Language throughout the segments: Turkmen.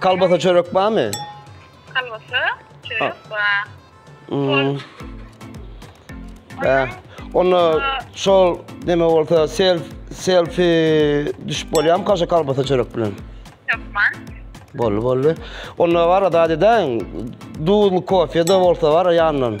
Kalbasa çörek barmy? Kalbasa çörek bar. Hmm. Ee, Onda şol neme bolsa self selfie düşüp bolýarmy kaşa kalbasa çörek bilen? Ýokman. Bolly bolly. Onda var da deden duzlu kofe de bolsa var ýandan.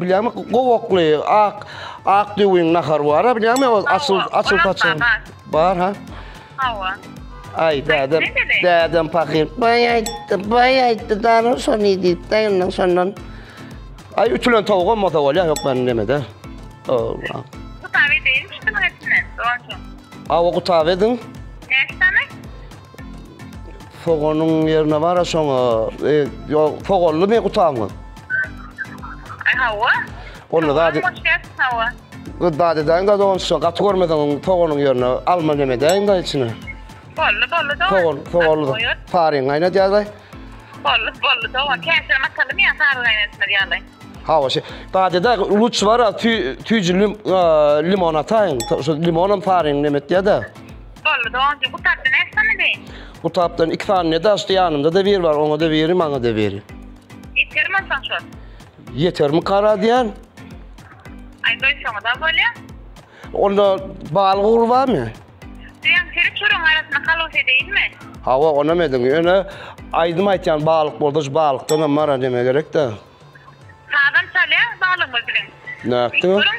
Bilýämi, gowakly, ak, ak düwüň nahar bar, bilýämi, o açyl, açyl saçan. Bar, ha? Hawa. Ay dädem, dädem fakir. Bay ayttı, bay ayttı. Darın son idi. Dayının sondan. Ay ütülen tavuk olmasa ol ya yok ben deme de. Allah. Kutabe değil mi şunun etine? Doğru. Ava kutabe edin. Ne tane? Soganyň ýerine bar-a şoňa. E, ýo, soganly me gutamyň. Hawa. Onda zady... Hawa. Bu zady daň da dogan şu gaty görmeseň soganyň ýerine alma neme daň da içine. Bolly, bolly dogan. Sogan, soganly. Saryň gaýnat ýaly. Bolly, bolly dogan. Käşir masaly me saryň gaýnatmaz ýaly. Hawa, şu zady da luç bar-a, tüýjülim, limon ataýyň. Şu limonam saryň neme etýä-de. Boldy doganjyk gutapda näçe sany deý? Gutapdan iki sany ne daşdy ýanymda da biri bar oňa da biri maňa da biri. Ýetermi onsoň şol? Ýetermi kara diýen? Aý goý şoňa da bolýa. Onda bal gugry barmy? Diýen seri çörüň arasynda kalus edeýinmi? Hawa onam ediň ýöne aýdym aýtýan balyk bolsa şu balykdanam mara deme gerek da. Sazam çalýa balygymyz bilen. Nätdi? Görüň.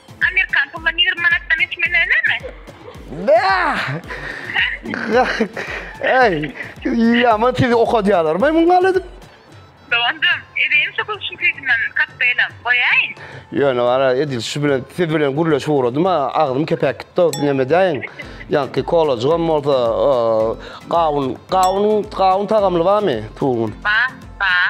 Amerikan pulundan ýigrimi manatdan geçmeli dälemi? Bäh! Eý, ýaman tiz okadýalarmy muňa gal edip? Doganjym, edeýin şu gülüşiň süýdünden kokteýlam, goýaýyn? Ýöne gara, edil şu bilen, siz bilen gürleşip ugradym-a, agzym kepäp gitdi-ow, näme edäýin? Ýaňky kolajygam bolsa, gawun, gawun, gawun tagamly barmy? Tugun. Bar, bar.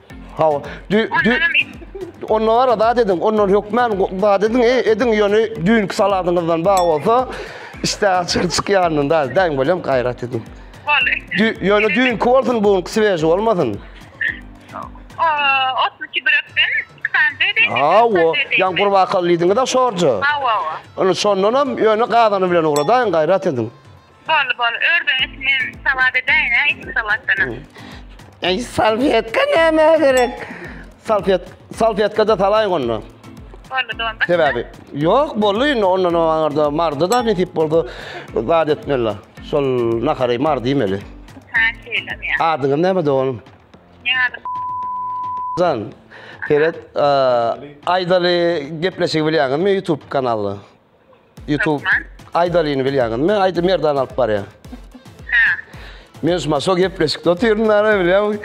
Hawa. Dü, dü, Ondan ara zat ediň, ondan hökmän go- zat ediň, e, ediň ýöne düýnki saladyňyzdan bar bolsa, işte açyr çykýandan da däň bolýan gaýrat ediň. Boldy. Dü, ýöne düýnki bolsun, bu günki svež bolmasyn. O, 32 börekden iki sany dedi. Hawa, ýan gurbakal diýdiňiz-a şorja. Hawa, hawa. Ony şondan hem ýöne gazany bilen ugradaýyň, gaýrat ediň. Boldy boldy ördeň et men salat edäýin hä iki salatdanam. Eý salfetka nämä gerek? Salfet salfetkada salaýyň onda. Boldy dolma. Sebäbi ýok boldy indi ondan aňarda mardy da nesip bolsa zat etmeli. Şol nahary mardy iýmeli. Ha şeýlem ýa. Adyňyz näme doganym? Ne ady? Jan, seret, eee, Aýdaly gepleşigi bilýäňizmi YouTube kanaly? YouTube Aýdalyny bilýäňiz mi? Aýdy Merdan alyp barýar. Men şu maşo gepleşikde otyrdym da bilýän.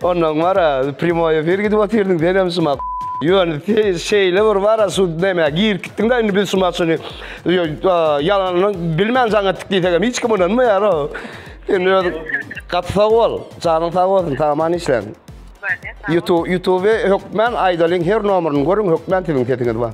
Ondan bara primoý efir gidip otyrdym. Sen hem şuma Ýöne şeýle bir bara şu näme gir gitdiň da indi biz şu maşyny ýalanyny bilmän jaň etdik diýsek hem hiç kim ynanmaýar o. Sen öz gat sag bol. Janyň sag bolsun. Tamam işlän. YouTube YouTube hökmän Aýdalyň her nomerini görüň hökmän siziň sesiňiz bar.